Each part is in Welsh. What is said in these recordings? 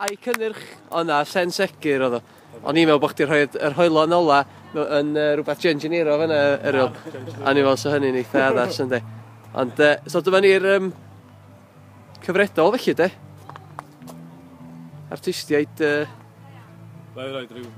A'i cynnyrch. O na, llên segur oedd o. O'n i'n meddwl bod chdi rhoi yr hoelon ola yn uh, rhywbeth genginero fan yna, Eryl. A ni fel so hynny'n eitha addas yndi. Ond, uh, so dyma ni'r um, cyfredol felly de. Artistiaid... Uh, Fe i roed rhyw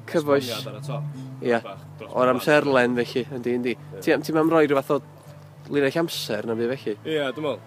cyfoes. ar y top. Ia, o'r amserlen felly, yndi, yndi. Ti'n ti mam roi rhywbeth o linell amser na fi felly? Ia, dwi'n meddwl.